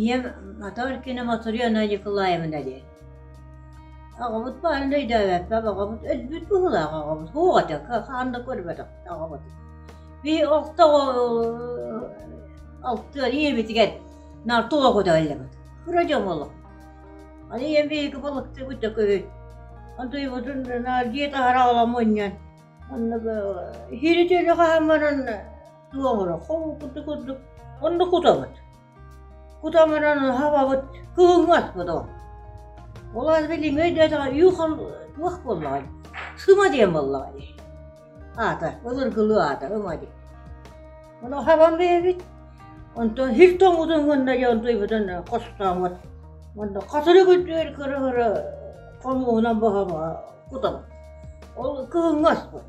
ийэм мотор кини Мотуриана Николаевна диэн оҕобут баарын да өйдөөбөппөп оҕобут өлбүт быһыылаах оҕобут туох этэ хаан да көрбөтөхпүт оҕобутун бии охтоҕо алтыан ийэбитигэр наар туох этэ ыллыбыт кыра дьон олох аны ийэм биһиги балыктыыбыт да көһүн антуйбутун наар дьиэ таһара ола мунньан онно хири төлө хаһан баран тыл оҥоро хоһу курдук курдук онно кутабыт кутамыра наһабабыт кыгыҥҥат бодо ол аны билиҥ өйдөөтөҕө юхан лых буоллаҕай сыма диэн буоллаҕай аата ылыргылыы аата ыма дии ону хабан бэйэбит онтон һир тоҥутун гынна диэн туйбутун хостооҥут онно хатыры күттүөр кыры-кыры хомуһунан бохомоҕо кутабыт ол кыгыҥҥаспыт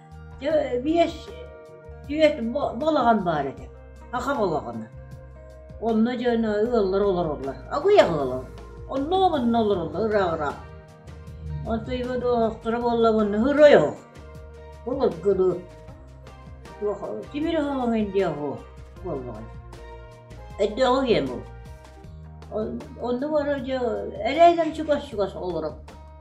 Биэс түөрт балаҕан баар этэ, аҕа балаҕана. Онно дьоно ыаллар олороллор, аҕыйах ыал онно-манна олороллор ыраах-ыраах. Онтуйба доҕохторо буоллабын сырой оһох. Былыргыны тимир оһоҕуҥ диэ оһуо буоллаҕай. Өйдөөх ийэм ол. Онно бара дьэ эрээдэн чугас-чугас олоро.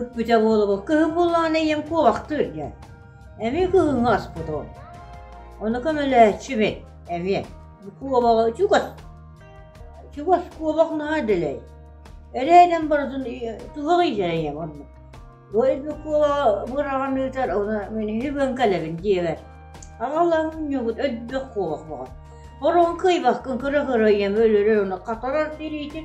Ыппыта буолугу кыһын буллаҕына ийэм куобахтыы илгэн, эмиэ кыһыҥҥы аспытым. Ону көмөлөөччүмүн эмиэ бу куобаҕы чугас чугас куобах наһаа дэлэй. Эрэйинэн барытын туһаҕыйдара ийэм оннук. Бу ирбэ куобаҕа быраҕан ыытар уна мин үһүбэн кэлэбин диэбэр аҕалаһынньыгыт өлбөх куобах баҕа. Ороҥ кыйбахкын көрө-көрө ийэм өлөрөр уна хатарар тириитин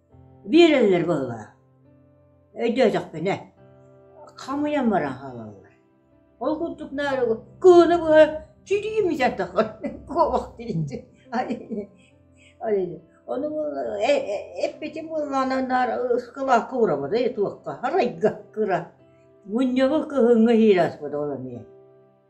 Биэрэллэр буоллаҕа. Өйдөөтөхпүнэ, хамыйан баран хаалаллар. Ол курдук наадыгы кыыны быһа чирии мичэрдэххин куобах тиринди. Ону эппитим буоллаана наар ыскылаакка урабыда туохха, арайга кыра. Мунньаҕы кыһыҥҥы иһиир ааспыт ол эмиэ.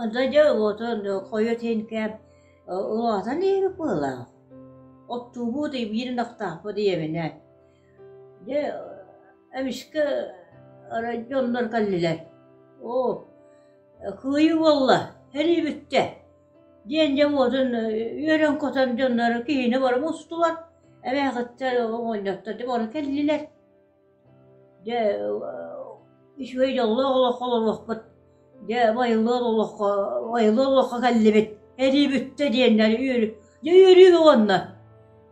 Онно дьэ улуотун хойут иһин кээм улаатан иһэбит быһыылаах. Оптуобус биирин ахтаахпыт ийэбинэ, дьэ эмискэ дьоннор кэллилэр: «Оо, кыайыы буолла, сэрии бүттэ» диэн дьэ уотун үөрэн-көтөн дьоннор киһини бары мустулар, эмээхиттэр оҕонньоттор дьэ бары кэллилэр. Дьэ, үчүгэй дьоллоох олоххо олоруохпут, дьэ, байылыан олоххо, байылыан олоххо кэллибит, эрии бүттэ диэннэр үөрүү бөҕөннөр.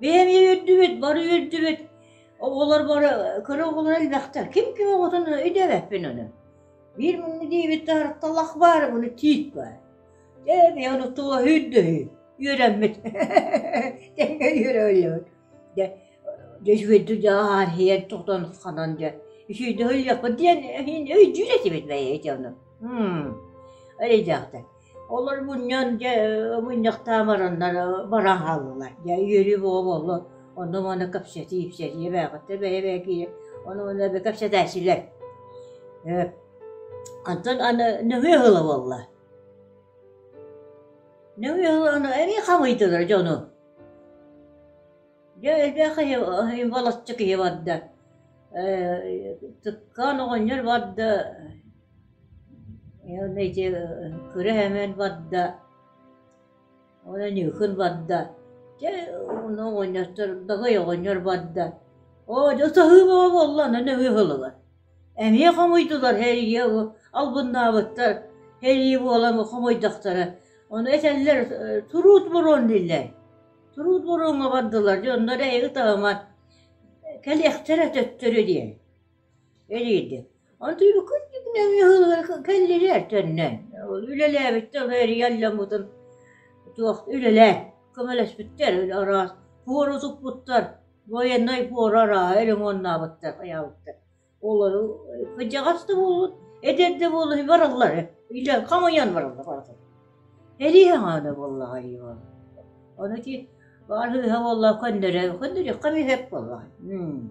Бэйэ эмиэ үөрдүбүт, бары үөрдүбүт, оҕолор бары кыра оҕолоро элбэхтэр, ким ким оҕотун өйдөөбөппүн ону. Биир муҥҥа диэбит таһырахталах баар, ону тиит баар. Дьэ, бэйэ ону тула үүрдө үһү, үөрэммит, тэҥҥэ үөрэ өллөбүт. Дьэ дьэ үчүгэйдик дьэ аарыһыйа тохтоон ханан дьэ үчүгэйдик ыйыахпыт диэн иһин өйдүүр этибит бэйэтэ ону м эли дьахтар олор мунньан дьэ мунньахтаан бараннар баран хааллылар дьэ үөрүү буола буоллар онно манна кэпсэтии ипсэтии эбээхиттэр бэйэ бэйэ киирэ ону ону эбэ кэпсэтээччилэр ээ онтон аны нөҥүө ыла буолла нөҥүө ыла аны эбии хамыйдылар дьону Дьэ элбэх киһи волосчо киһи барда, Цыткаан оҕонньор барда, эти Кыра Өймөөн барда, уонна Ньыыкын барда, дьэ онно оҕонньоттор Дагый оҕонньор барда, оо дьэ саһыы бөҕө буолла, онно нөҥүө ыһыллар эмиэ хомуйдулар һэрийэ албыннаабыттар һэрии буолан хомойдохторо ону этэллэр труд бурун дииллэр труд буруҥҥа бардылар дии онно эрэ эйи таамат кэлиэхтэрэ төттөрү диэн элиирдик онтуйбуккут кэллилэр төннөн үлэлээбиттэр ону эрийэ алламмытын туох үлэлээ көмөлөспүттэр араас куору туппуттар военнай буора арааһа ремоннаабыттар, айаабыттар. Олору кыдьаҕас да буолут, эдэр да буолут бараллар. Илэ хамыйан бараллар бараллар. Эрии хаҥаана буоллаҕа Иван. Ону ити баар hыыһа буолла көннөрө, көннөрүөххэ миһэп буолла. Хм.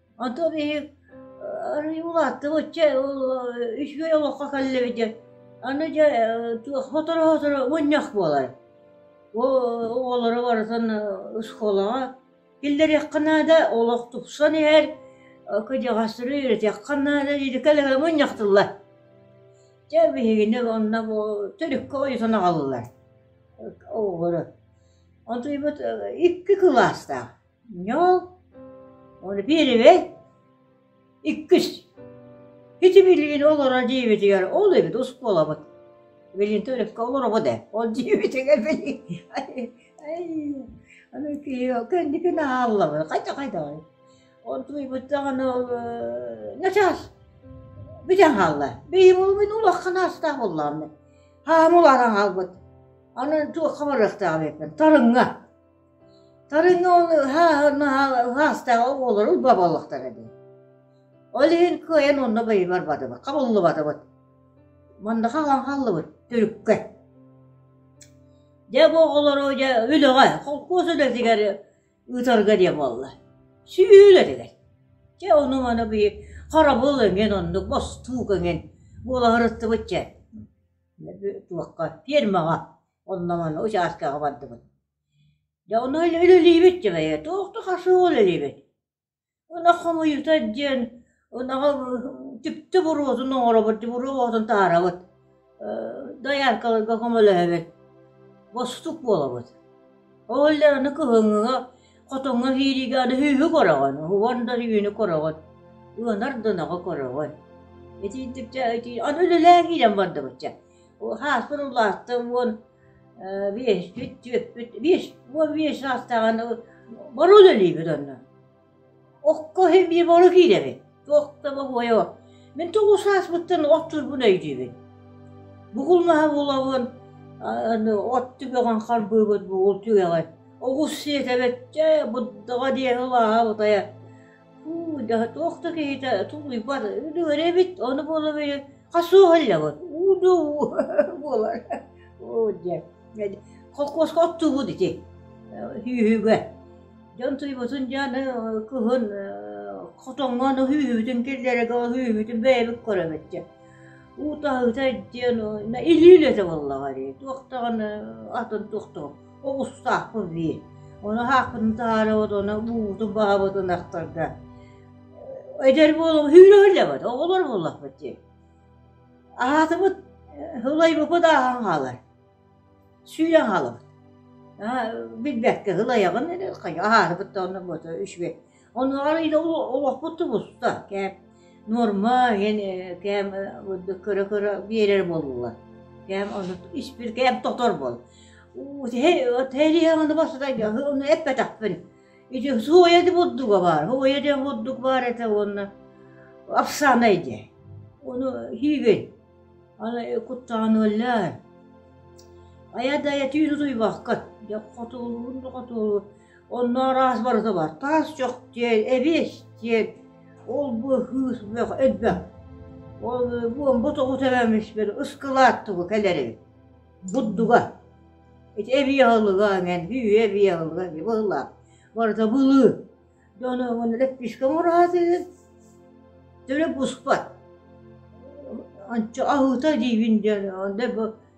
Онтон биһи арыый улааттыбыт, үчүгэй олоххо кэллибит диэн. Аны дьэ сотору-сотору мунньах буолар. Оҕолору барытын оскуолаҕа киллэриэххэ наада, олох тупсан иһэр, кырдьаҕастары үөрэтэххэ наада диэти кэлэ мунньахтыллар. Дьэ биһигини онно бу төрүккэ ойутан аҕаллылар оҕолору. Онтуйбут икки кылаастаах. Ньол, ону биэрэбэй? Иккис, ити билигин олорор дьиэбитигэр ол эбит оскуолабыт. Билигин төрөккө олоробут ээ, ол дьиэбитигэр билигин аны кэнникин ааллабыт, хайда хайдаҕый? Ол туйбут даҕаны ол начаас бүтэн хаалла. Бэйим ол мин улахан аастаах буллааммын. Хаамыл аран хаалбыт. Аны туох хамарыахтаах эбиппин, тарыҥҥа. Тарыноны ыһаастаах оҕолору уба буоллахтара дии. Ол иһин кыайан онно бэйи барбатыбыт, хабыллыбатыбыт. Мандаха хааллыбыт түрүккэ. Дьэ бу оҕолору дьэ үлэҕэ, холкуос үлэтигэр ыытарга диэн буолла. Сүүл этилэр. Дьэ ону-маны бии харабыл эҥин оннук, бостуук эҥин буолаһырыттыбыт дьэ. Туохха, фермаҕа онно-маны участкаҕа бардыбыт. Дьэ ону үлэлиибит дьыбайа, туох да хашыыга үлэлиибит. Ынах хомуйуута диэн ынаҕы түптэ буруотун оҥоробут, буруотун таарабыт, дояркаларга көмөлөһөбүт, бостук буолабыт. Ол иһин аны кыһыҥҥыга, хотоҥҥо киириигэ аны үһү көрөҕүн, уһугар да үүнү көрөҕүн, ыанар да ынаҕы көрөҕүн. Итиитиктэ ити аны үлэлээн киирэн бардыбыт дьэ. Сааспын улааттым уон Биэс, түөрт, биэс, уон биэс саастааҕын боруо үлэлиибит онно. Окко иһин биир боруо киирэбит. Туох да бобуойа бу. Мин тоҕус сааспыттан от турбун өйдүүбүн. Бугулмаһа булабын, от түгэҕин харбыыбыт бугул түгэҕин. Оҕус сиэтэбит, чэ, буддаҕа диэки улааһа бутайа. Уу, да туох да киһитэ тулуйбат, өлүөр эбит, ону буола били хас суоһаллаҕыт, уу-дуу буолар, оо диэн, холкуоска оттубут ити хүүһүгэ, дьон туйбутун дьааны кыһын хотоҥҥоон хүүһүбүтүн киллэрэгэ хүүһүбүтүн бэйэбит көрөмөттө, уу таһыыта диэн илиилэтэ буоллаҕа дии, туох даҕаны атын туохтугун Оҕустаахпын дии, ону аһаахпытын таһаарабыт, ону уубутун баһабыт ынахтарга. Эдэр буолуҥ, сүүрүһүллэбит, оҕолор буоллахпыт дии. Аһаатыбыт, ылайбыппыт ааһан хаалар. Сүүрэн хаалабыт. Билбэккэ ылайаҕын, аһаатыбыт да онно бу үчүгэй. Онуоҕар ити олохпут тубуста. Кээп нуорма иһин кээм көрө-көрө биэрэр буоллулар. Кээм ону испир кээм тотор буол. Уу тэлиэҕини баста ону эппэтэхпин. Ити суоя де бурдуга бар. Суоя де бурдук бар это уонна афсанай де. Ону хийген. Аны куттааныллар. Айа да этүүнү туйбаккат. Де хотулуун да хотулу Онно араас барыта бар. Таас чох диэн, эбиэс диэн, ол-бу кыыс бөх элбэх. Ол буомба тоҕу тэбэммис бер ыскылааттыбы кэлэри. Буддуга. Ити эбиэ алыга эҥэн, үйэ эбиэ алыга быылаах. Барыта былы. Дьону оҕун леппишка мураатын. Төлө буспат. Анча аһыта диибин диэн, онда бу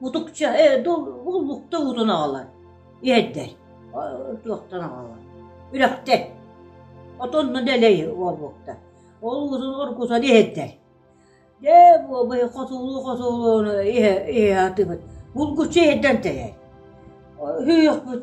Мутукча ээ буллукта уутун аҕалан иһэрдэр туохтан аҕалан үрэхтэр оттон онно дэлэй буолбуттар ол уутун оргутан иһэрдэр дьэ буобай хотуулуу хотуулууну иһэ иһэ атыыбыт булгуччу иһэрдэн тэйэр сүһүөхпүт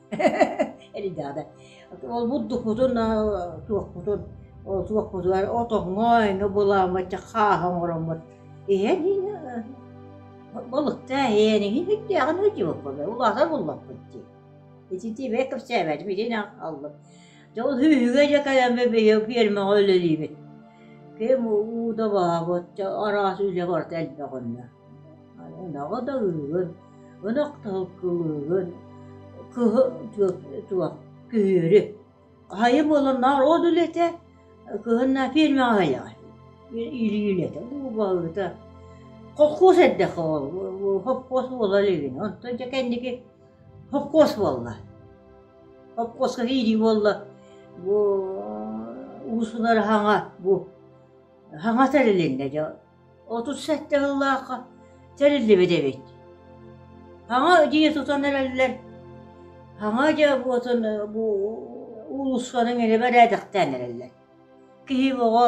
Эльдада. Ол-бу дукутун, туохпутун, ол туохпутугар отоҥҥо эҥэ булааммыт, дьэ хааһа оҥороммут. Иһэн иһэ балыкта иһэн иһин иттээҕин ыдьыбыкпын, улаатар буллаппыт дии. Итити бэйэ кэпсээбэтим, итини аҕаллым. Дьэ ол хүүһүгэ дьэ кэлэммэ бэйэ фермаҕа үлэлиибит. Ким уута баабыт, араас үлэ барыта элбэх онно. Ынаҕы да ылыгын, ынах да кылыыгын, кыһы туох күһүөрү. Хайы буолан наар от үлэтэ, кыһынна фермаҕа хайаҕын, илиин этэ, баһыыта. Хохкуос эрдэххэ ол, хохкуос буола илигин, онтон дьэ кэнники хохкуос буолла. Хохкуоска киирии буолла, бу уус ынар хаҥа, бу хаҥата илиннэ дьэ отут сэттэ сыллаахха тэриллибит эбит. Хаҥа дьиэ тутан эрэллэр. Хаҥа дьэ буотун бу уулуссанан илэ бэрээдэхтээн эрэллэр. Киһи оҕо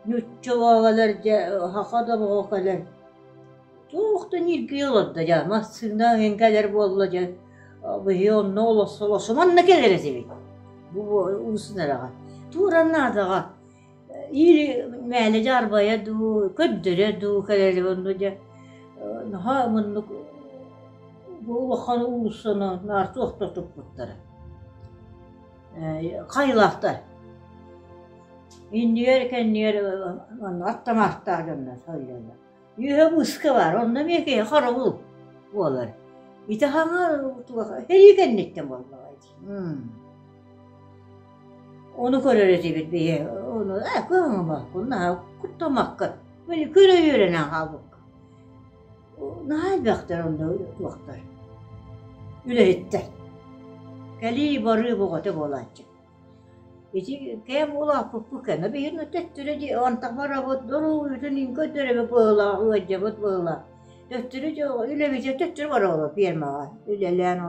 нүччэ оҕолор дьэ хаха да оҕолор туох да ниргийэ олордо дьэ массыына эҥкэлэр буолла дьэ быһыы онно олосо олосо манна кэлэр этибит. Бу улусын араҕа. Тууран наадаҕа. Ири мээлэ дьаарбайа дуу, көрдөрө дуу кэлэри онно дьэ наһаа муннук бу улахан уулуссаны наар туохтатыппыттара. Хайылаахтар. Иннигэр кэннигэр манна аттамаахтаах дьоннор сылдьаллар. Үөһэ быыска баар, онно эмиэ киһи хараҕыл буолар. Ити хаҥар сэрии кэнниттэн буоллаҕа. Ону көрөр этибит бии, ону ээ кыһаҥабаккын, наһаа куттамаккын, били көрө үөрэнэн хаалбыккын. Наһаа элбэхтэр онно туохтар. Үлэһиттэр. Кэлии-барыы бөҕөтө буолааччы. Ити кэм улааппыппыт кэнэ биһин төттөрө дии антах барабыт, доруутун иҥкөттөрөбү быһылаах, ыаддьабыт быһылаах. Төттөрү дьэ үлэбитэ төттөрү барабыт пиэрмэҕэ үлэлээн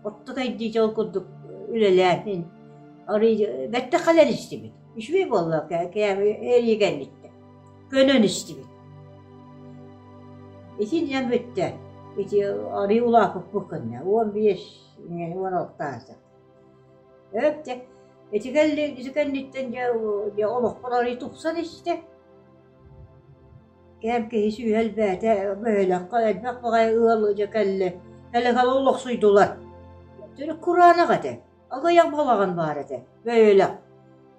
Орто дойду ол курдук үлэлээһин, бэттэх кэлэн истибит. Үчүгэй буолла эригэнниттэн. Көнөн истибит. Итиннэн бүтте. Ити арый улаапыппыт кынна. Уон биэс, уон алтааса. Өпте. Итикэлли итикэнниттэн дьэ олохпор арый тупсан истэ. Эр киһи сүһүө элбээтэ, бөһүөлэккэ элбэх баҕайы ыал дьэ кэллэ, кэлэ-кэлэ олохсуйдулар. Төрүт кураанах этэ, аҕыйах балаҕан баар этэ, бөһүөлэк.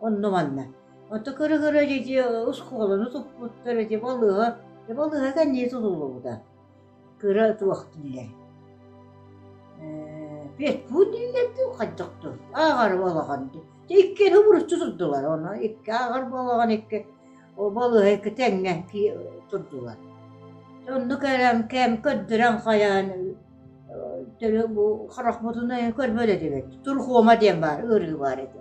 Онно-манна. Онто көрө-көрө ити оскуоланы туппуттар, ити балыыһа, ити балыыһа кэннии тутуллубута. кыра туох дииллэр ээ петьку дииллэр дуу хайдах дуу ааҕар балаҕан дии дьэ иккиэн обуруччу турдулар ону икки ааҕар балаҕан икки балыыһа икки тэҥҥэ турдулар оннук эрэн кэм көрдөрөн хайаан бу харахпытын көрбөт этибит турхуома диэн баар ыарыы баар этэ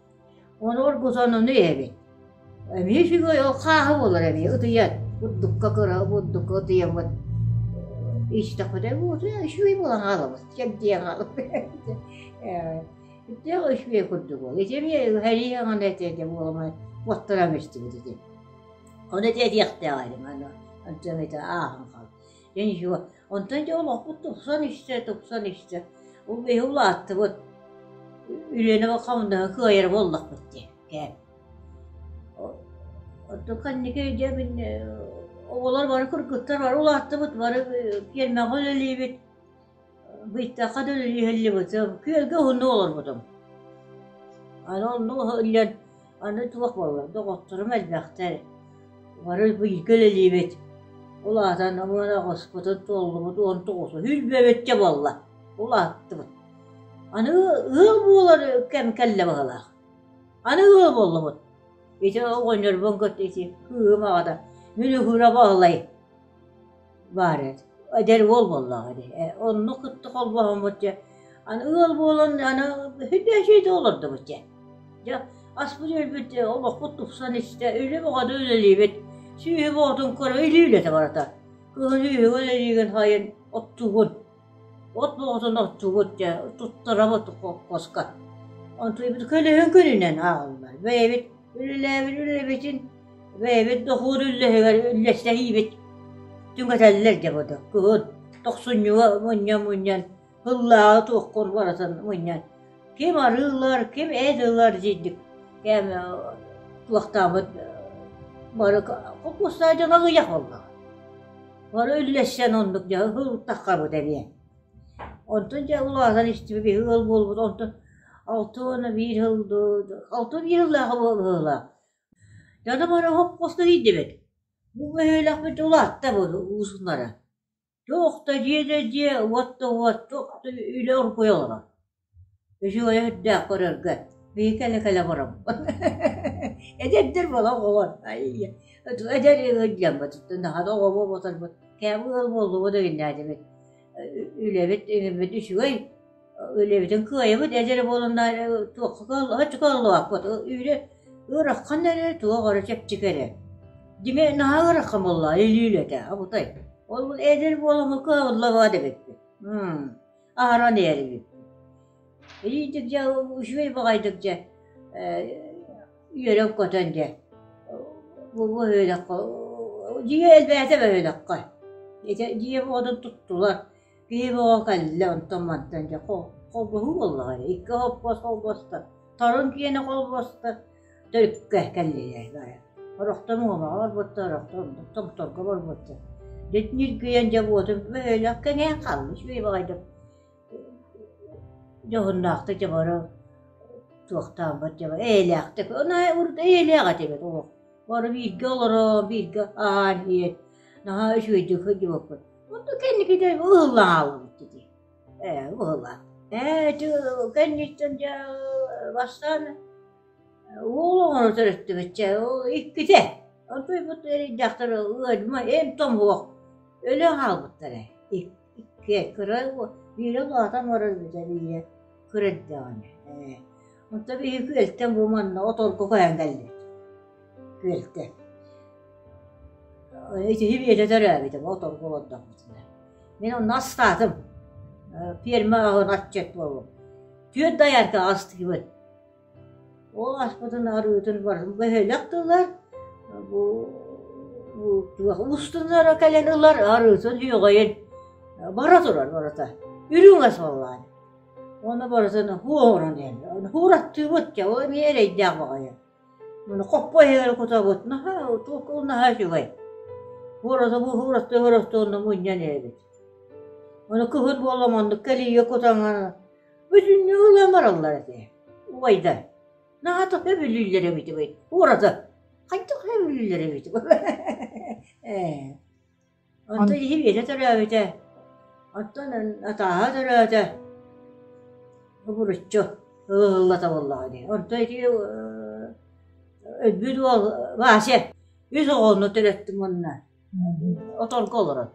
Онуорга сонуну эбин. Эмиэ үчүгэй ол хааһы буолар эмиэ ытыйан. Бурдукка кыра бурдукка ытыйаммыт. Истэхпитэ бу утуйа үчүгэй буолан хаалабыт. Кэрдиэн хаалабыт. Итэ үчүгэй курдук буол. Ити эмиэ хәриэҕин этэ этэ буоламай уоттаран истибит ити. Ону этэ диэхтээх эдим аны. Антон ити ааһан хаал. Эйиэхэ онтон дьэ олохпут тупсан истэ, тупсан истэ. Ол биһи улааттыбыт. Үлэни хамнаһы кыайара буоллахпыт диэн кэм. Оттон ханнык дьэ мин оҕолор бары кыргыттар бары улааттыбыт, бары пиэрмэҕэ үлэлиибит. Быйтахха да үлүһэллибитим, күөлгэ уһуннук олорбутум. Аны оннук иһиллэн аны туох буоллар, доҕотторум элбэхтэр, бары бииргэ үлэлиибит. Ол аатан уонна хоспутун туоллубут уон тоҕус үүрбэбэккэ буолла, улааттыбыт. Аны ыал буолар кэм кэллэ быһыылаах. Аны ыал буоллубут. Ити оҕонньорбун кытта ити кыым аҕата Мүлүкүрэ Баһылай баар эт эдэр уол буоллаҕа ини онну кытта холбооммут дьэ аны ыал буолан аны да олордубут дьэ дьэ аспыт өлбүт олохпут тупсан истэ үлэ бөҕөтө үлэлиибит сүөһү боотун көрө илии үлэтэ барата кыһын үөһүгэр үлэлиигин хайын оттуугун От буоҕутун оттубут дьэ, туттарабыт хоккоска. Онтубут көлөһүн күнүнэн ааҕаллар. Бэйэбит үлэлээбит үлэлэбитин, бэйэбит дохуот үллэһигэр үллэстэһиибит. Түҥэтэллэр дьэ буду. Кыһын тохсунньуга мунньан-мунньан, һыллааҕы туоххун барытын мунньан ким арыыллар, ким эт ылар дьиндик кээмэ туохтааммыт бары кукуусса дьон аҕыйах буолла. Бары үллэстэн оннук дьэ ылтаххабыт эмиэ. Онтон дьэ улаатан истибит биһи ыал буолбут онтон алта уона биир сыл алта уон биир сыллаах ыһыллаах. Дьоно бары хоп хоста киирдибит. Бу өһүөлэхпит улаатта бу уусуннара. Туох да диэтэ дии, уот да уот, туох да үлэ оргуйа олорор. Үчүгэй өрдөөх көрөргө биһи кэлэ-кэлэ олоробут Эдэрдэр буола оҕолор эдэр ыалдьаммыт наһана оҕобут буотарбыт кээбэ ыал буоллубут эгиннээдибит үлэбит иҥиммит үчүгэй үлэбитин кыайабыт эдэр буолан туохха кыаллыбакка кыаллыбаккыт үүрэ ыараххан эрэ туох эрэ чэпчик эрэ димэ наһаа ыарахан буолла илиилэ этэ абытай ол эдэр буоламмын кыаллыбат эбиппин аһаран иһэрбиппин илиитик дьэ үчүгэй баҕайытык дьэ үөрэн көтөн дьэ бу бөһүөлэккэ дьиэ элбээтэ бөһүөлэккэ ити дьиэ буодун туттулар Киһи бөҕө кэллэ онтон-мантан дьэ холбоһуу буоллаҕа дии икки холбос холбоста торун киэнэ холбоста төрүккэ кэллилэр орохтон уомаҕа барбыттар орохтон томторго барбыттар дьэ ньиргийэн дьэ буотун бөһүөлэк кэҥээн хаалла үчүгэй баҕайытык дьоһуннаахтык дьэ бары туохтааммыт дьэ эйэлээхтик эйэлээх этибит олох бары бииргэ олоро бииргэ аһаан иһэн наһаа үчүгэйдик сылдьыбыппыт Онно кэнникитэ ыһыллаалбыт ити. Ээ ыһыллаат. Ээ дьэ кэнниттэн дьэ бастаан уол оҕону төрөттүбүтчэ иккитэ. Онтуйбут дьахтар ыадьма эм томоһох өлө хаалбыттара. Икки кыра биирэ улаатан баран биирэ кырыт даҕаны. Оттон ыы күөлтэн бу манна от орго коян кэллим. Күөлтэн. Итиһи биэтэ төрөөбүтүм, от орго олордоммутуна. Мин онно астаатым. Ферма аһын аччыт буолум. Түөрт даярка астыыбын. Ол аспытын арыытын барын бөһөлөк тылар. Бу устунара кэлен ылар арыытын үйөҕөйүн. Бара турар барата. Үрүҥэ саллаан. Уонна барытын һуу оҥорон иһэллэр. Һуур аттыыбыт дьэ ол эмиэ эрэйдээх баҕайы. Маны хоппо иһэри кутабыт. Наһаа туокул наһаа үчүгэй. Һуур тобу һуур аттыы һуур аттыы онно мунньан иһэбит. Ону кыһын буолла маннык кэлийэ кутаҥа бүтүннүү ылан бараллар этэ. Убайда. Наһатах өбүлүүллэр эбит бит. Һуур аты. Хайдах өбүлүүллэр эбит. Ээ. Онто иһи-биэтэ төрөөбүтэ. Оттон атааһа төрөөтө. Обуруччу ылыллата буоллаҕа дии. Онто ити өлбүт уол Вася үс оҕону төрөттүм уонна оторго олорон.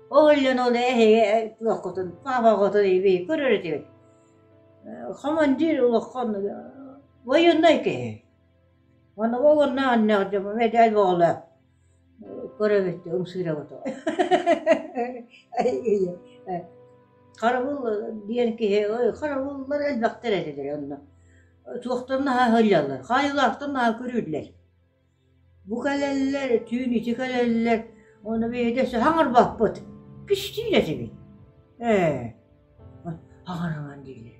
Ол иллэн ол эһиги туоххутун, папаҕытын иби көрөр этибит. Командир улахан военной киһи. Ону ол онно аннеҕ медаль боҕула. көрөбүттүү ымсыыраҕытоҕо харабыл диэн киһи харабыллар элбэхтэр этилэр онно туохтан наһаа сылдьаллар хаайыылаахтан наһаа көрүүллэр бу кэлэллэр түүн ити кэлэллэр ону биһидэсэ хаҥырбаппыт кистиин этибит ээ хаҥараҥан диилэр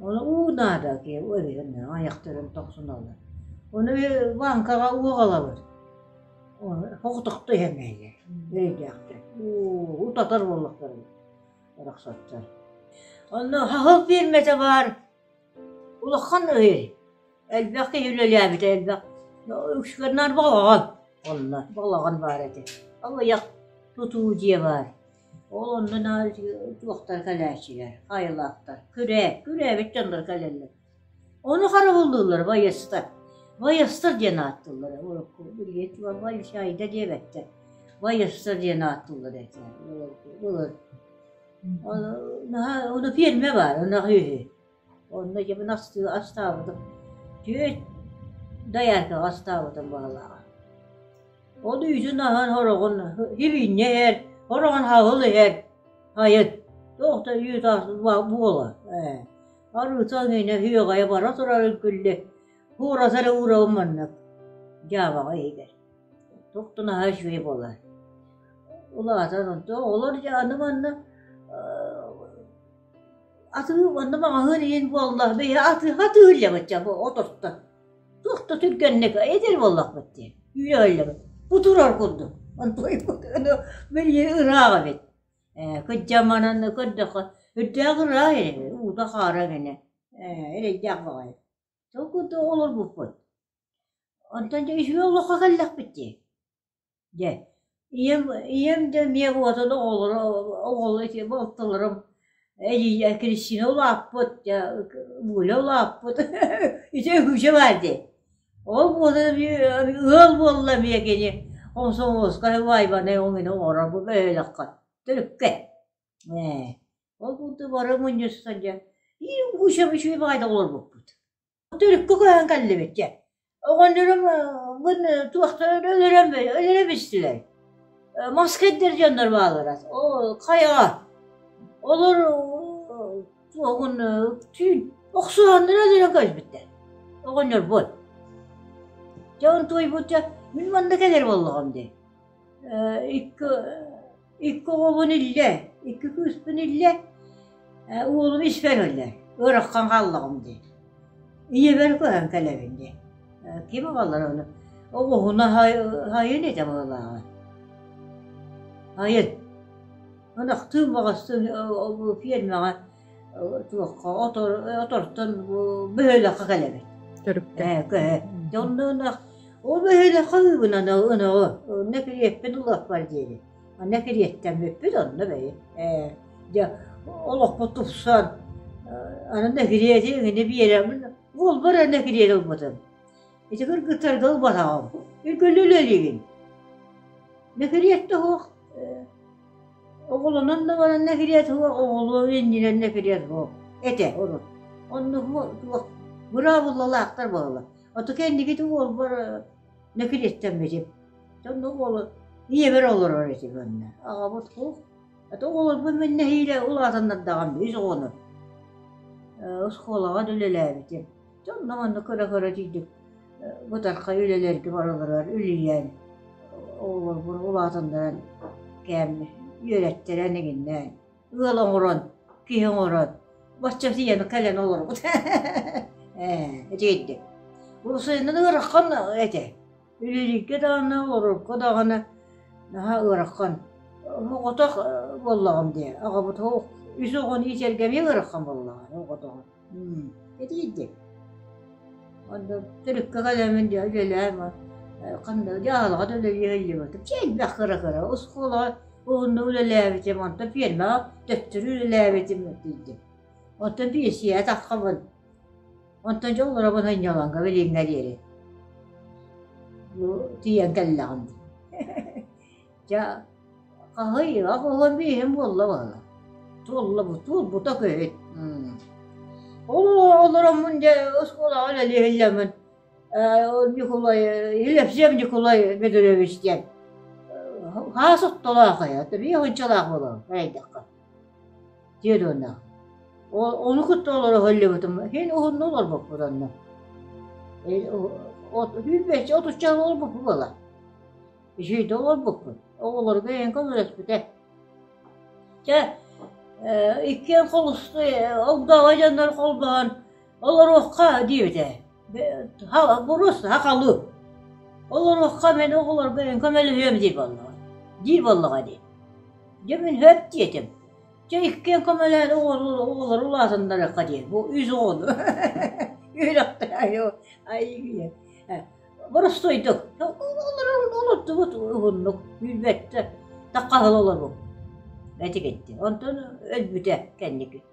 уу наада айахтарын тохсуналлар ону Ванькаҕа уоҕалабыт хохтохто иһэҥэйэ өйдөөхтөр уу утатар буоллахтара арахсаттар онно хаһыл пиэрмэтэ баар улахан үһү элбэх киһи үлэлээбитэ элбэх ушкарнар баҕаҕа онно балаҕан баар этэ алыйах тутуу дьиэ баар Ол онно дьуохтара кэлээччилэр, хаайылаахтар, күрээт, күрээбит дьоннор кэлэллэр. Ону харабыллыыллар байыастар. Байыастар диэн ааттыыллар, билиэт буолар байсайда диэбэттэр. Байыастар диэн ааттыыллар этэ. Ол наһаа, ону ферма баар, ынах үөһү. Онно дьиэбин астыы астаабытым. Түөрт дояркаҕа астаабытым баҕалааҕа. Ол үүтүн аһан ороҕун илиинньэ иһэр, ороҕун хаһыл иһэр, хайыт. Туох да үүт ас буола ээ. Арыытал иннинэ һүөҕэйэ бара турарын күллэ, кууратары уурабын маннык, дьаабаҕа иһигэр. Туохтан аһа үчүгэй буолар. Улаатан онтон олор аны манна Атыы уонна маҕаһыын иһин буолла, бэйэ атыы атыыллыбыт дьэ бу оторто. Туох да түргэнник эдэр буоллахпыт дии, үөллэбит, кутурар курдук. Онтуй букыны билии ыраах эбит. Ээ, кыддьаманан көрдөххө, үрдээх ыраах эрэ, уута-хаара гэнэ, ээ, эрэйдээх баҕайы. Толкуйда олорбуппут. Онтон дьэ үсүө олоххо кэллэхпит дии. Дьэ, ийэм ийэм да эмиэ уотун оҕолоро оҕолоро итиэннэ оттолорум эдьиийэ Кристина улааппыт, дьэ Вуля улааппыт, ити Вуся баар дии. Ол уоту эмиэ ыал буолла эмиэ кини комсомольскай Вайбанай өҥүнэн оҥорор бу бөһүөлэккэ төрүккэ. Ээ, ол курдук бары мунньустан дьэ, и Вуся үчүгэй баҕайытык олорбуппут. Төрүккэ көһөн кэллибит дьэ. Оҕонньорум мин туохтан өлөрөн өлөрө бүстүлэр. Маска этэр дьоннор бааллара. Ол хайаҕа. Олор туоһун түүн охсуһаннара өлөрөн көспүттэр. Оҕонньорбут. Дьэ он туойбут дьэ мин манна кэлэр буоллаҕым дии. Икки Икки оҕобун иллэ, икки кыыспын иллэ, уолум испэр өллө, ыараххан хааллаҕым дии. Ийэбэр көһөн кэлэбин дии. Ким аҕалар ону? Оҕуһуна хайын ити абыллааҕы? Хайын? Ынахтыын, баҕастыын фермаҕа туохха отор отортон бу бөһүөлэккэ кэлэбит. Төрүккэ. Ээ кэһэ. Онно ол бөһүөлэккэ ыгынан ынаҕы онно кириэппин улааппар диэри. Анна кириэттэн бүппүт онно бэйи. Ээ дьэ олохпут тупсан анна кириэти эҥини биэрэмин уолбар анна кириэт ылбытын. Ити кыргыттарга ылбатаҕым. Үлгүлүлэлигин. Нэкириэтте хоох Оҕолонон даҕаны нэһилиэк суоҕа оҕолуо иннинэн нэһилиэк суох этэ ону. Онно туох быраабылалаахтар баалар. Отука иннигит уолбар нэкилиэттэммитим. Сонно уолу ийэбэр олорор этим онно. Аҕабыт суох. Ата оҕолорбун мин нэһиилэ улаатаннардаҕым үс оҕону. Оскуолаҕа үлэлээбитим. Дьонно манна көрө-көрө тиийдик бытархай үлэлэргэ баралларыгар үлүйэн, оҕолорбун улаатыннаран кээми үөрэттэрэн игиннээн, ыал оҥорон, киһи оҥорон, бачча тиийэн кэлэн олорбут ээ, итиитик. Урусуйунан ыараххан этэ. Үлэлииргэ даҕаны, олорорго даҕаны наһаа ыарахан. Оҕотох буоллаҕым дии, аҕабытыгар үс оҕону иитэргэ эмиэ ыарахан буоллаҕа оҕотоҕун. Итийдик. Онно төрүккэ кэлэмин дьэ үлэлээн ханна дьаһалаҕа да үлэлиһиллибитим. Чэ элбэх кыра-кыра оскуолаҕа уһуннук үлэлээбитим, онтон пиэрмэҕэ төттөрү үлэлээбитим тиийдим. Оттон биэсийэ атаххабын. Онтон дьэ олоробун анньаланга билиҥҥэ диэри. Бу тиийэн кэллэҕим дии. Дьэ хаһыйыах оһон бииһин буолла баһыла. Туолла бу туолбута көһүт. Олороммун дьэ оскуолаҕа үлэлиһиллэммин Ньукулай Елевсев Ньукулай Мидорович диэн хаас оттолоох эйэ, биир ынчалаах буолабын, эрэйдэххэ. диэдуонна ону кытта олоро сылдьыбытым син уһунну олорбоппут онно сүүс отучча олорбуппут буолар сүүрдэ олорбуппут оҕолорго эйэҥ көмөлөспүтэ чэ иккиэн холусту огдообо дьоннор холбоон Олоруохха диэбитэ. Бурус, хахалыы. Олоруохха мин оҕолорбун көмөлөһүөм дии буоллаҕа. Дии буоллаҕа дии. Дьэ мин хөп диэтим. Дьэ иккиэн көмөлөөн оҕолору улаатыннарыахха диэн. Бу үс оҕону. Үөрэх Ай, боростуойдук. Олуттубут уһуннук. Билбэттэ. Таккаһыл олорбут. Эти кетти. Онтон өлбүтэ кэнники.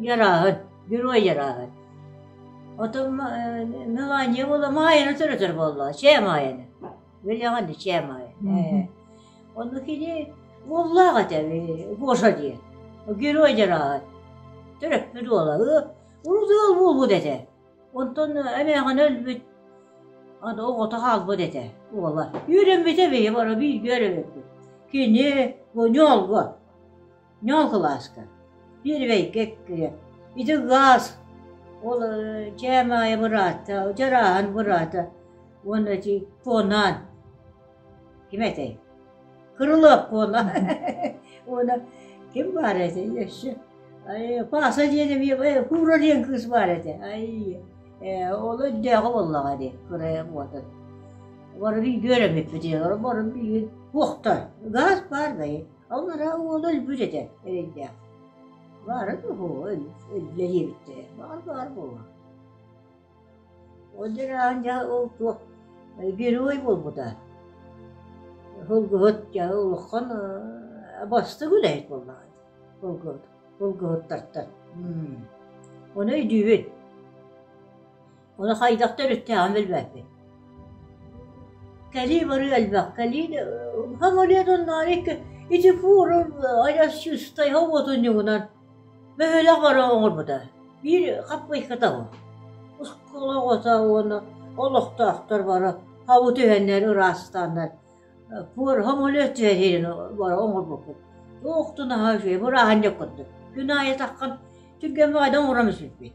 ярааһыт, герой ярааһыт. Отон Мелания буола Маайаны төрөтөр буолла. Чээ Маайаны. Вильяҕанды Чээ Маайаны. Онну кини буоллаах этэ Гоша диэн. Герой ярааһыт. Төрөппүт буола. Урудуол буолбут этэ. Онтон эмээҕин өлбүт. Аны оҕото хаалбыт этэ уола. Үөрэммитэ биһи бара бииргэ өрөбүппүт. Кини Гоньолго. Ньуолкалааска, Первэйгэ эккирэ, ити гаас ол дьэ Маайа быраата, дьарааһан быраата уонна ити Куонаан, ким этэй? Кырылап Куонаан уонна ким баар этэ өссө Пааса диэн эмиэ куура диэн кыыс баар этэ ай ол өйдөөҕө буоллаҕа дии кырайан уотун бары билбит үөрэммиппит бары билбит туохтар гаас баар дайы Ол арай уола өлбүт этэ эрэйдээх. Баара дуу, үлэлиэбиттэрэ, баар-баар буолуо. Ол дьараан дьэ ол туох герой буолбута. Холгуһут дьэ улахан бастык үлэһит буоллаҕа. Холгуһут, холгуһуттартан. Оны өйдүүбүн. Ону хайдах төрүттээҕин билбэппин Кэлии-барыы элбэх. Кэлии хамыыһыйа оннооҕор икки ити форум айдас шестайга уотун ньугунан бөһүөлэк бары оҥорбута. Биир хаппыйка табы. Оскуола оҕото уонна олохтоохтор бары хабы түһэннэр ыраастааннар пуор хамыыһыйа түһэрин бары оҥорбуппут. Туохтун аһа үчүгэй, бырааһынньык курдук. Күн аайы таххан түгэммэ айдан оҥором сүппүт.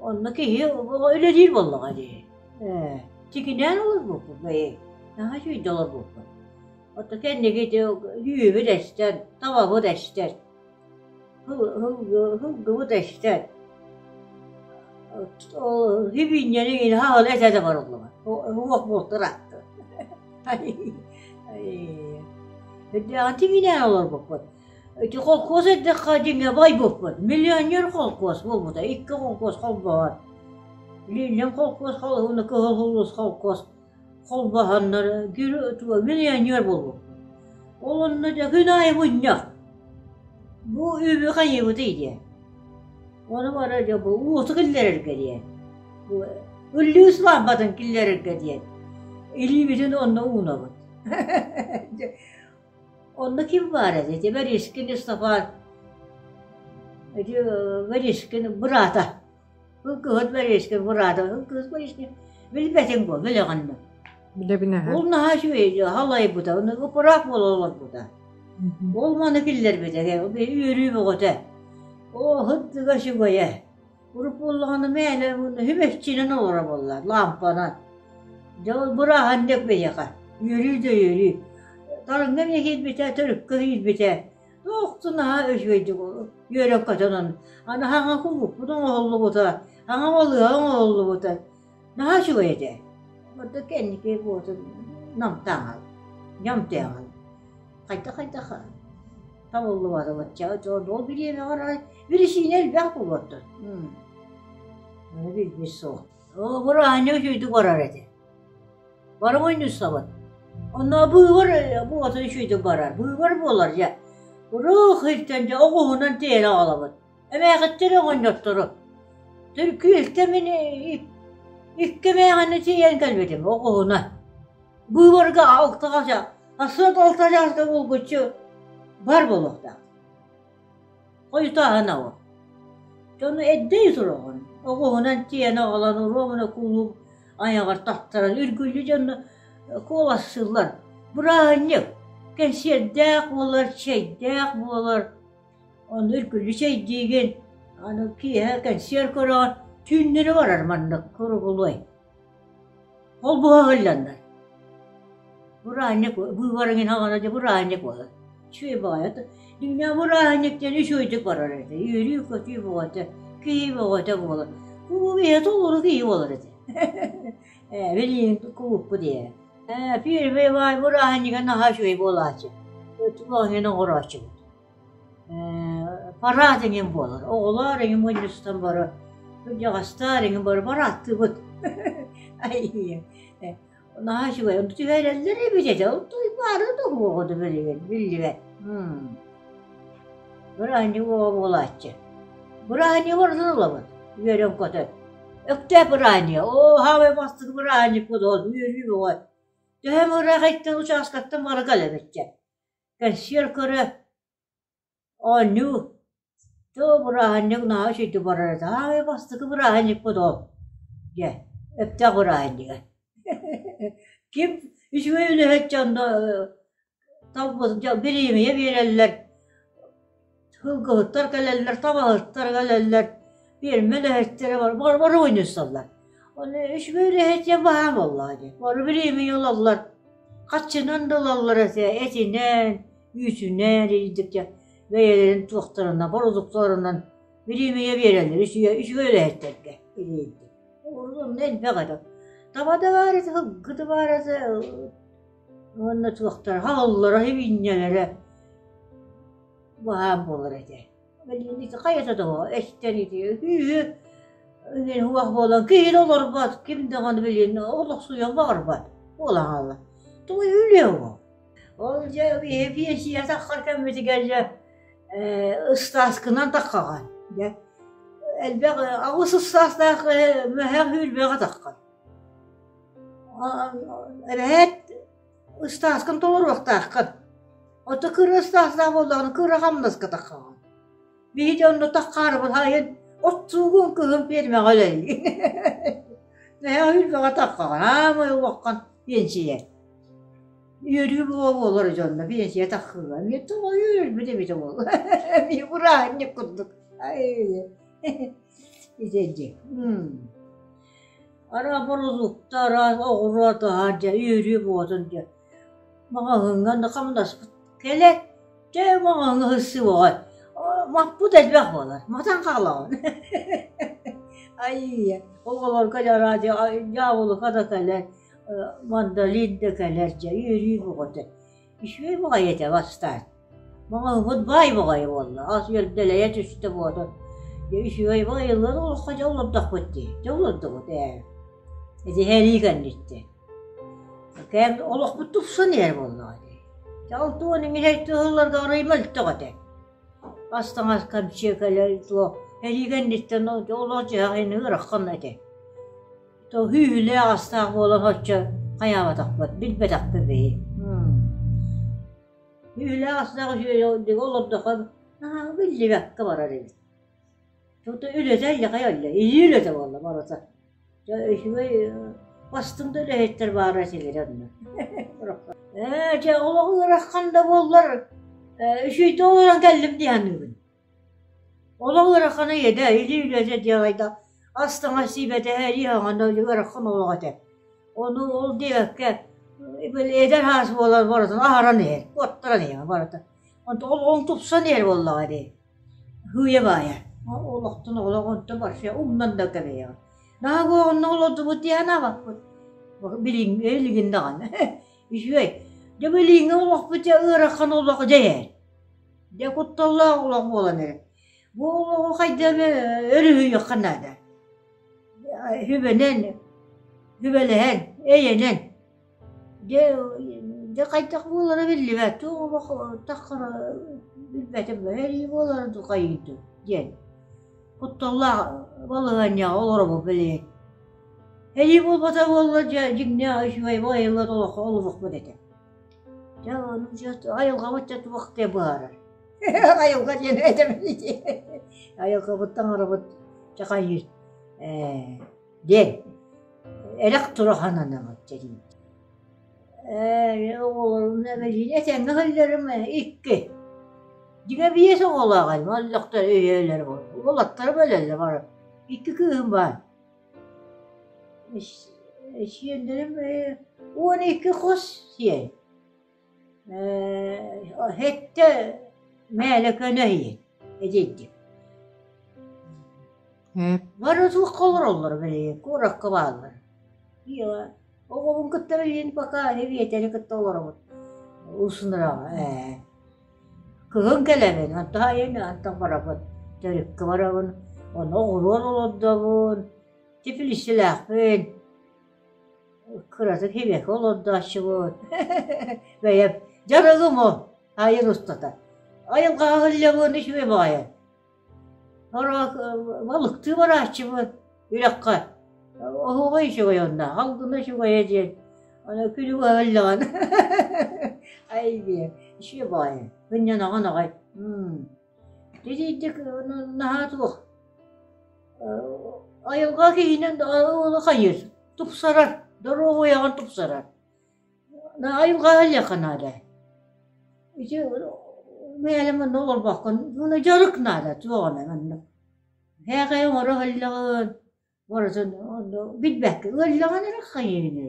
Онно киһи үлэлиир буоллаҕа дии. Ээ, тигинээн олорбуппут бэйи, наһаа үчүгэй олорбуппут. Оттон кэнники ити үһүбүт эстэр, табабыт эстэр, һылгыбыт эстэр. Сибиинньэни хаһан этэ да барыллыбат. Уох бултар ааттар. Тигинээн олорбуппут. Ити холкуос эттэххэ дьиҥэ байбыппыт. Миллионер холкуос буолбута, икки холкуос холбоһор. Илииннэн холкуос, уонна кыһыл улуус холкуос холбоһоннор миллионер буолбуппут. Ол онно дьэ күн аайы мунньах. Бу үбү хайыыбыт идиэ. Ону бара дьэ бу уоту киллэрэргэ диэ. Бу үллүү сылаамбатын киллэрэргэ диэн. Илиибитин онно уунабыт. Онно ким баар этэй? Ити Варишкин Исафан, ити Варишкин быраата. Ыл кыһыт Варишкин быраата, ыл кыһыт Варишкин билбэтиҥ буол, билэҕиннэ. Билэбин эһэ. Ол наһаа үчүгэй халайбыта, оны ыпыраак буола олорбута. Ол маны киллэрбитэ, үөрүү бөҕөтө. О, хыттыга сүгэйэ. Уруккуллаҕына мээнэ үһүм эччинэн олоро буоллар лаампанан. Дьэ ол бырааһан диэк биһиэхэ үөрүү да үөрүү. Талыҥҥа эмиэ киирбитэ, төрүккэ киирбитэ. Туохту наһаа үчүгэйдик үөрэн-көтөн аны анаһаҥа кубукпут оҥоһуллубута, аҥа балыыһа оҥоһуллубута. Наһаа үчүгэй этэ. Ордук кэнники буоту намтааҕын, ньамтааҕын. Хайдах-хайдах табыллыбата бачча. Ол бириэмэҕэр бирисиинэ элбэх буолбуттар. Аны билбит суох. Оҕолор аанньа үчүгэйдик барар этэ. Баран ойнуссабыт. Онно быыбар буоту үчүгэйдик барар. Быыбар буолар дьэ. Урух иртэн дьэ оҕуһунан тиэрэ аҕалабыт. эмээхиттэр оҕонньотторо түркүүһүккэ мин икки эмээхэни тиийэн кэлбитим оҕуһуна быыбарга алта хача сот алта чааска булгуччу бар буолуохтаах хойутааһына ол дьону эрдэй сураҕын оҕуһунан тиийэн аҕалан уруомуна куулук айаҕар тахтаран үргүллүү дьонно куолассыыллар бырааһынньык кэнсиэрдээх буолар чэйдээх буолар Ону үргүлү чэйдиигин, аны киэһэ кэнсиэр көрөҕүн, түүннэри барар маннык куругулуой Ол быһа ыһылланнар Быраанньык быыбарыҥ иһин аҕана дьэ быраанньык быһа Үчүгэй баҕайы ата Дьиҥинэ бырааһынньыктыын үчүгэйдик барар этэ Үөрүү-көтүү бөҕөтө, киһи бөҕөтө буолар Бу биһиэхэ толору киһи буолар этэ Ээ, билигин кубукпут ээ. Ээ, первый май бырааһынньыга наһаа үчүгэй буолааччы. Чулаан иһин оҥорооччубут. Ээ, параад эҥин буолар. Оҕолоор эҥин мунньустан бары, кырдьаҕастаар эҥин бары параадтыыбыт. Айыы. Э, наһаа үчүгэй. Онно түһэрэллэр эбит этэ. Туймаары да буолуоҕа да билигин, биллибэт. М Бырааһынньык уоҕа буолааччы. Бырааһынньык ордунуллабыт, үөрэн-көтөн. Өктөөп бырааһынньыга, оо, саамай бастык бырааһынньыкпыт ол, үөрүү бөҕөт. Төһө эмэ ыраахыйтан учаастактан бары кэлэбитчэ. Кэнсиэр көрө, оонньуу, тоо бырааһынньык наһаа үчүгэйдик барар этэ, саамай бастакы бырааһынньыкпыт ол, диэ, өптөөх бырааһынньыга. Ким үчүгэй үлэһит дьоно бириэмийэ биэрэллэр, кылгыһыттар кэлэллэр, табаһыттар кэлэллэр, пиэрмэ үлэһиттэрэ бары мунньусталлар. Ону үчүгэй үлэһиттиэ баһаам буоллаҕа дии. Бары бириэмийэ ылаллар. Хаччынан да ылаллар этинэн, үүтүнэн, ирдик дьэ бэйэлэрин туохтарынан, бородуктарынан бириэмийэ биэрэллэр үчүгэй үлэһиттэргэ бириэмийэ. Онно элбэх этэ. Таба да баарыта, кылгы да баарыта Уонна туохтара хааллылара һибинньэлэрэ баһаам буолар этэ. Ити хайата того эстэн ити үһү инин уах буолан киһин олорбот ким даҕаны билин олохсуйан баарбат буолан хаалла. Тугу үлүө бу? Ол дьэ биһи пенсия таххар кэммитигэр дьэ ыстааскынан таххаҕа дьэ элбэх аҕыс ыстаастаах мэһэх үүрбэҕэ таххан. Эбээт, ыстааскын толоруохтааххын. Отто кыра ыстаастаах буоллаҕына кыра хамнаскатаххаҕын. Биһиги онно такхаарыбын хайын, оттуугун кыһын пиэрмэҕэ үлэлиин. Наһаа үлбэҕэ таххаҕын, аамай улаххан пенсия. Үөрүү буола буолар дьонно пенсия таххыга. Эмиэ тоҕо үөрбүт эбитэ буол. Эмиэ бырааһынньык курдук. Ай. Итинник. Араа бородууктара, оҕуруотаһар дьэ, үөрүү буотун дьэ, маҕаһыыҥҥа да хамнаспыт. Кэлэт, дьэ, маҕаһыыҥҥа сырсыы боҕой. Маппыт элбэх буолар, матан хаалаҕын. Айыйа, оҕолорго да радио, дьаабылыка да кэлэр, мандолин да кэлэр дьэ, үөрүү буҕутэ. Үчүгэй баҕайы этэ бастаан. Маҕаһыыммыт баай баҕайы буолла. Ас үөрдэлэйэ түстэ буотун. Дьэ үчүгэй баҕайыллан олоххо дьэ олордохпут дии. Дьэ олордубут ээ. Итиһэ илии кэнниттэ. Кээн олохпут тупсан иһэр буоллаҕа дии. Дьэ алта уон иҥин erte сылларга арыый мөлтөх этэ. Ас таҥас кэмчиэкэлэр туо илии кэнниттэн дьэ олох дьиһэҕин ыыраххан этэ. тоһүү үһүлээх-астаах буолан соччо хайаабатахпыт, билбэтэхпит биһи Үһүлээх-астаах үһүөлээх олордоххо биллибэккэ барар эбит. Тото үлэтэ яхай олле, илии үлэтэ буолла барыта. Үчүгэй бастында үлэһиттэр баара силири онно. Ээ, дьэ, олох ыарахан да буоллар, үчүйтэ олорон кэллим диһаныыбын. Олох ыарахана иэдэ, илии үлэтэ диэн айда ас-таҥас сиибэтэһэ илии хаҥанна ыарахан олох этэ. Ону ол диэбэккэ эдэр аас буолан барытын аһаран иһэр, куоттаран иһэр барыта. Онтон ол он тупсан иһэр буоллаҕа дии. Һыыйа-баайа. Олохтон олох онто барыша умнан да кэбиһиэҕэ. Наһаа бу онно олордубут дии санаабаппыт. Билиҥ илигин даҕаны. Үчүгэй. Дьэ билиҥҥи олохпут ыарахан олох дьэ иһэр. Дьэ кутталлаах олох буолан эрэр. Бу олоҕу хайдах өрүһүйүөххэ наада? Сүбэнэн, сүбэлэһэн, эйэнэн. Дьэ, дьэ хайдах буолара биллибэт. Туох олох таххара билбэтим да эһии буолара дукайый дуу диэн. Кутталлаах балаһыанньаҕа олоробут билигин. Эһии буолбата буолла дьэ дьиҥнээх үчүгэй байыллар олох олоһукпут этэ. Дьэ, ону дьиэс, айылҕабыт дьэ туох дии быһаарар. Айылҕа диэн этэбин ити. Айылҕабыт таҥарабыт чахайыт э, диэн эрэх турахан анамыт дии. Э, оҕолорум эбэлиин этэҥҥэ сылларым икки. Дьиҥэ биэс оҕолоох айман олохтор өйөөлөр болаттарым өлөллөр бары. Икки кыыһым баар. Эсиэннэрим уон икки хос сиэй Һэттэ Мээлэкэнэ ийин эдьиийдим Бары туохха олороллоро били куоракка бааллар оҕобун кытта билигин пока биэтэри кытта олоробут усунураҕа ээ Кыһын кэлэбин, онтон айан ыантан барабын, төрүккэ барабын, ону оҕуруот олордобун, тифлиссилээхпин, кыратык хибэки олордооччубун, бэйэм дьарыгым о айан устата, айан хаһыылльабын үчүгэй баҕайы. Балыктыы барааччыбын үрэххэ оһоҕой үчүгэй онно алгына үчүгэйэ диэн аны күнүгү эбэллэҕин айгия ичиэ баайа мынньанаҕын аҕай титиитик наһаа туох айылҕа киһинэн хайыыр тупсарар доруобуйаҕын тупсарар Айылҕаҕа илиэхэ наада. Ити бэйэлэ манна олорбоккун ууну дьарык наада туох эмэ манна. Һээхэйи оҥоро иһэллэҕин барытын онно билбэккэ ыалльаҕын эрэ хайыыны.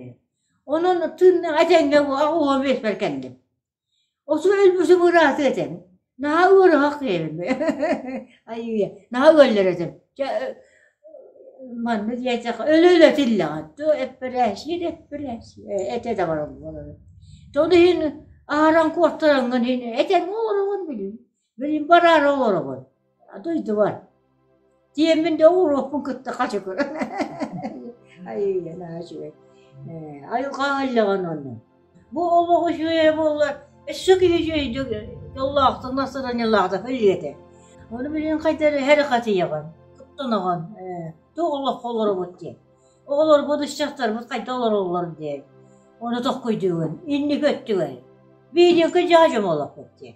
Онон тыынна этэҥҥэ уо биэспэр кэллим. Осу өлбүсүм ырааты этэн. Наһаа ыарыһах киэбим. Айыыйа, наһаа ыаллар этим. Дьэ манна диэтэххэ өлө-өлө этиллэҕин. Ту эппэрээсиин эппэрээсиин этэ да барыллар. То ону иһин аһаран куоттараҥҥын иһин этэн олороҕун билим. Билим бараары олоробун. А дойдубар. Диэммин да уруоппун кытта хачы көрөн. Айыы, наа үчүгэй. Э, айылҕаҕа иллэҕин онно. Бу олох үчүгэй буоллар, өссө киһи үчүгэйдик дьоллоохтук настроениялаахтык илиэтэ. Ону билин хайдары һэри хатыйаҕын, куттанаҕын. Э, Туох олоххо олоробут диэн. Оҕолорбут, ыччаттарбыт хайда олороллор диэн. Оны тохкуйдугун, инники өттүгэр. Биһиниэхэ дьаадьым олохпут диэн.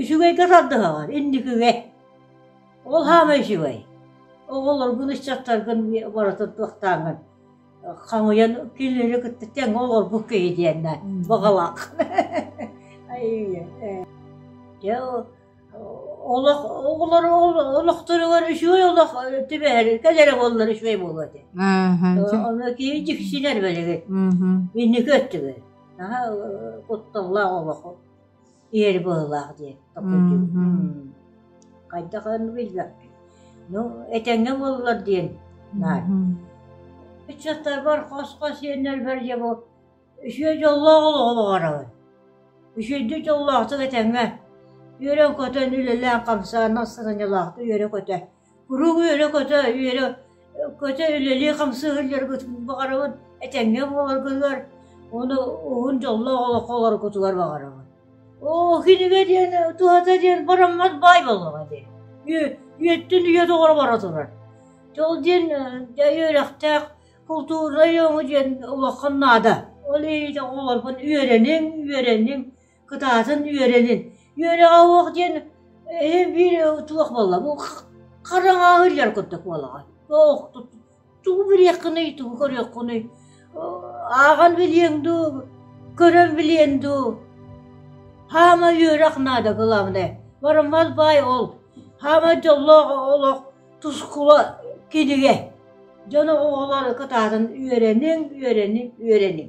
үчүгэйгэ тардыһаҕын инникигэ ол саамай үчүгэй оҕолоргун ыччаттаргын барытын туохтааҥҥын хаҥыйан кинилэри кытта тэҥҥэ олорбут киһи диэннэ баҕалаах дьэ олох оҕолор олохторугар үчүгэй олох түбэһэр кэл эрэ буоллар үчүгэй буолуо ити ону киһи дьиксинэр бэлигин инники өттүгэр кутталлаах олох Иэр быһылаах диэн такайдыым. Хайдах аны билбэппин. Ну, этэҥҥэ буоллар диэн наар. Ыччаттарбар хос-хос иэннэрбэр дьэ бу үчүгэй дьоллоох олоҕу баҕарабын. Үчүгэйдик дьоллоохтук этэҥҥэ үөрэн-көтөн, үлэлээн-хамсаан, астынаньалаахтык үөрэ-көтө Куруук үөрэ-көтө, үөрэ көтө үлэлии хамсыы сылдьаргытын баҕарабын, этэҥҥэ буоларгытыгар уонна уһун дьоллоох олоххо олороргутугар баҕарабын. Оо, кинигэ диэн, туһата диэн бараммат баай буоллаҕа дии. Үйэ үйэттэн үйэ тоҕо бара турар. Ол диэн үөрэхтээх култуура айааҥы диэн улахан наада. Ол иһин оҕолорбун үөрэниҥ, үөрэниҥ. кытаатан үөрэнин үөрэҕэ уох диэн биир туох буолла бу хараҥаҕа иһиллэр курдук буолаҕа ох тугу билиэххиний тугу көрүөххүнүй ааҕан билиэҥ дуу көрөн билиэн дуу хаама үөрэх наада главное бараммат баай ол хаама дьоллоох олох тускула кинигэ дьону оҕолор кытаатан үөрэниҥ үөрэниҥ үөрэниҥ